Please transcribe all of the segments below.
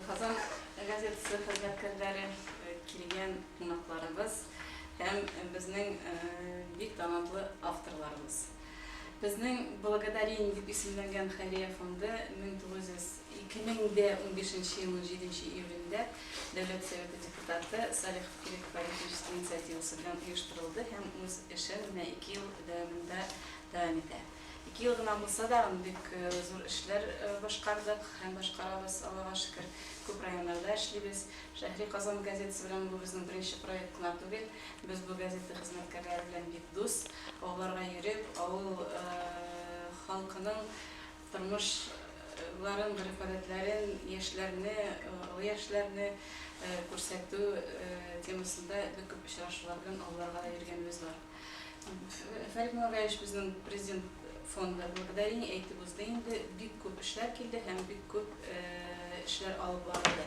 Казан газетасы хезмәткәрләре, килгән кунакларыбыз һәм безнең бик талантлы авторларыбыз. Безнең Благодарение дип исемләнгән хәйрия фонды 2015 елның 7 нче июлендә Дәүләт Советы депутаты Салих Кирекбаевич инициативасы белән оештырылды һәм үз эшен менә ике ел дәвамында дәвам итә. Ике ел гына булса да, бик зур эшләр башкардык һәм башкарабыз, Аллага шөкер. Күп районнарда эшлибез. Шәһри Казан газетасы белән бу безнең беренче проект кына түгел. Без бу газета хезмәткәрләре белән бик дус. Авылларга йөреп, авыл халкының тормышларын, гореф-гадәтләрен, яшьләрне, олы яшьләрне күрсәтү темасында бик күп очрашулар белән авылларга да йөргәнебез бар. Фәрит Муллагаевич безнең Президент фонды благодарение әйтеп узды инде. Бик күп эшләр килде һәм бик күп эшләр алып барылды.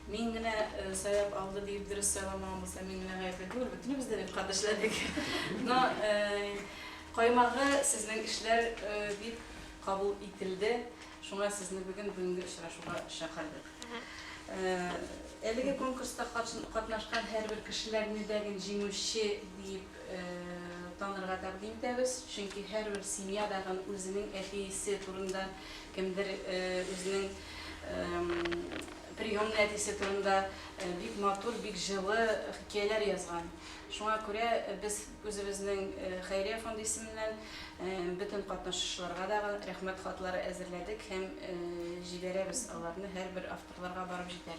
Мин генә сайлап алды диеп дөрес сайламавым булса, мин генә гаепле түгел, бөтенебез дә бит кат эшләдек. Но каймагы сезнең эшләр дип кабул ителде. Шуңа сезне бүген бүгенге очрашуга чакырдык. Әлеге конкурста катнашкан һәрбер кешеләрне дә гел җиңүче диеп танырга тәкъдим итәбез, чөнки һәрбер семья да гел үзенең әтисе турында, кемдер үзенең приемный әтисе турында бик матур, бик җылы хикәяләр язган. Шуңа күрә без Үзебезнең хәйрия фонды исеменнән бөтен катнашучыларга да рәхмәт хатлары әзерләдек һәм җибәрәбез аларны, һәрбер авторларга барып җитәр.